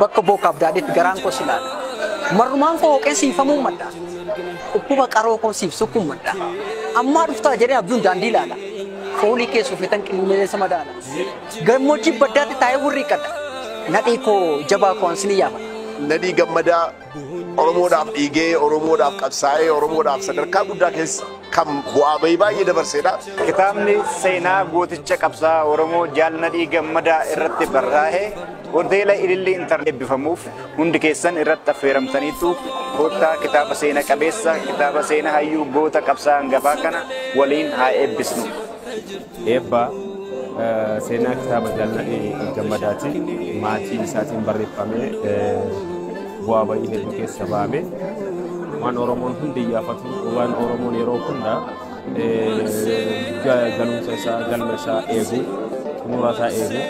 Bakka bookaaf daadheetti garaan koo si laala. Marrumaan koo hooqee si hifamuun madda. Dhukkuba qaroo koo siif sukkuun madda. Ammaa dhuftaa jedhee abjuun daandii laala. Foolii kee suufetan qilleensa madaala. Gammoojjii baddaatti taa'ee wurriiqadha. Nadhii koo jabaa koo ansinii yaafadha. Nadhii gammadaa Oromoodhaaf dhiigee, Oromoodhaaf qabsaa'ee, Oromoodhaaf sadarkaa guddaa keessa kan bu'aa bahii baay'ee dabarseedha. Kitaabni seenaa gooticha qabsaa Oromoo Jaal Nadhii Gammadaa irratti barraa'e hoteela Ilillii Intarneet eebbifamuuf hundi keessan irratti affeeramtaniitu koottaa kitaaba seena qabeessa kitaaba seena hayyuu goota qabsaa hangafaa kana waliin haa eebbisnu. Eebba seenaa kitaaba Daani'el Gammadaatiin maatii isaatiin barreeffamee bu'aa ba'ii hedduu keessa ba'ame. Waan Oromoon hundi iyyaafatu, waan Oromoon yeroo hunda galumsa isaa, galma isaa eegu, xumura isaa eegu.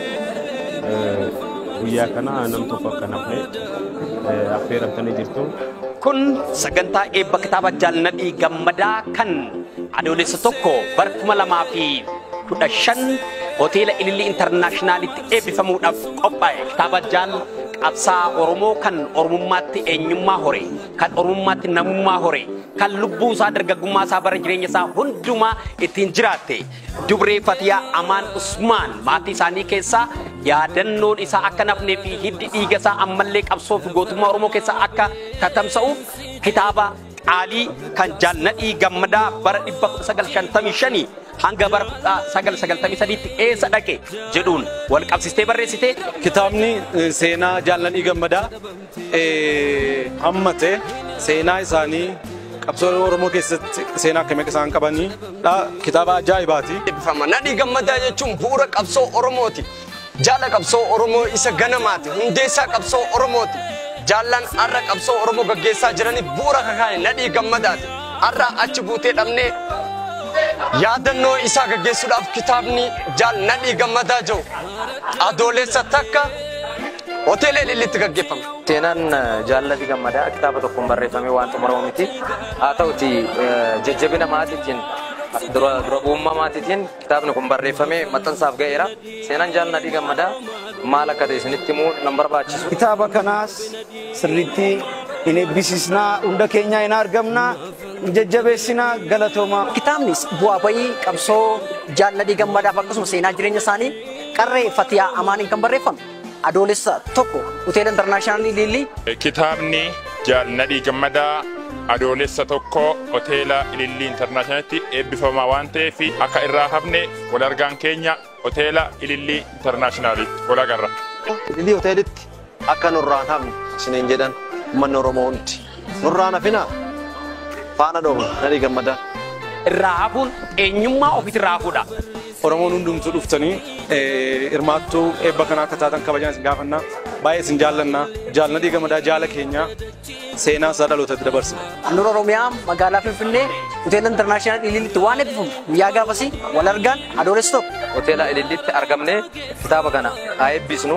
Guyyaa kana nam tokko akka nafne affeeramtanii jirtu. Kun sagantaa eebba kitaaba Jaal Nadhii Gammadaa kan Adoolessa 1 bara 2015 Hoteela Ilillii Intarnaashinaalitti eebbifamuudhaaf qophaa'e kitaaba Jaal Qabsaa Oromoo kan Oromummaatti eenyummaa hore, kan Oromummaatti namummaa hore, kan lubbuu isaa dargaggummaa isaa bara jireenya isaa hundumaa ittiin jiraatte Dubree Fatiyaa Amaan Usmaan maatii isaanii keessaa yaadannoon isaa akka nafnee fi hiddi dhiiga isaa ammallee qabsoo fi gootummaa Oromoo keessaa akka tatamsa'uuf kitaaba qaalii kan Jaal Nadhii Gammadaa bara 1955 hanga bara 1993tti eessa dhaqe jedhuun wal qabsistee barreessite. Kitaabni eh, seenaa Jaal Nadhii Gammadaa eh, hammate seenaa isaanii qabsoo Oromoo keessatti seenaa akkamii akka isaan qabaniidha. Kitaaba ajaa'ibaati. Nadhii Gammadaa jechuun bu'uura qabsoo Oromooti. Jaala qabsoo Oromoo isa ganamaati. Hundeessaa qabsoo Oromooti. Jaallan har'a qabsoo Oromoo gaggeessaa jiraniif bu'uura kakaa'e nadhii gammadaati. Har'a achi buutee dhabnee yaadannoo isaa gaggeessuudhaaf kitaabni jaal nadhii gammadaa jiru adoolessa takka hoteela ilillitti gaggeeffama. Seenaan jaalladhi gammadaa kitaaba tokkoon barreeffamee waan xumuramu miti. Haa ta'uti jajjabina maatiitiin dura dura bu'ummaa maatiitiin Kitaabni kun barreeffamee maxxansaaf ga'eera. Seenaan Jaal Nadhii Gammadaa maal akka ta'e isinitti himuu nan barbaachisu. Kitaaba kanaas sirriitti in eebbisiisnaa, hunda keenyaa in argamnaa, in jajjabeessinaa galatoomaa. Kitaabnis bu'aa ba'ii qabsoo Jaal Nadhii Gammadaaf akkasuma seenaa jireenya isaanii qarree Fatiyaa Amaaniin kan barreeffame. Adoolessa 1 Hoteela Intarnaashinaallii Liillii. Kitaabni Jaal Nadhii Gammadaa Adoolessa 1 Hoteela Ilillii Intarnaashinaalitti eebbifamaa waan ta'eef akka irraa hafne wal argaan keenya Hoteela Ilillii Intarnaashinaalitti wal agarra. Ilillii Hoteelitti akka nurraa hin hafne isiniin jedhan uummanni Oromoo hundi. Nurraan hafina faana dhooma nadhii gammadaa. Irraa hafuun eenyummaa ofiitirraa hafuudha. Oromoon hundumtuu dhuftanii hirmaattuu eebba kanaa akka taatan kabajaan isin gaafannaa. Baay'ee isin jaallannaa. Jaal Nadhii Gammadaa jaala keenyaa seenaa isaa dhalootatti dabarsina. Handhuura Oromiyaa magaalaa Finfinnee hoteela intarnaashinaal Ilillitti waan eebbifamu guyyaa gaafasii wal argaan adoolessa tokko. Hoteela Ilillitti argamnee kitaaba kana haa eebbisnu.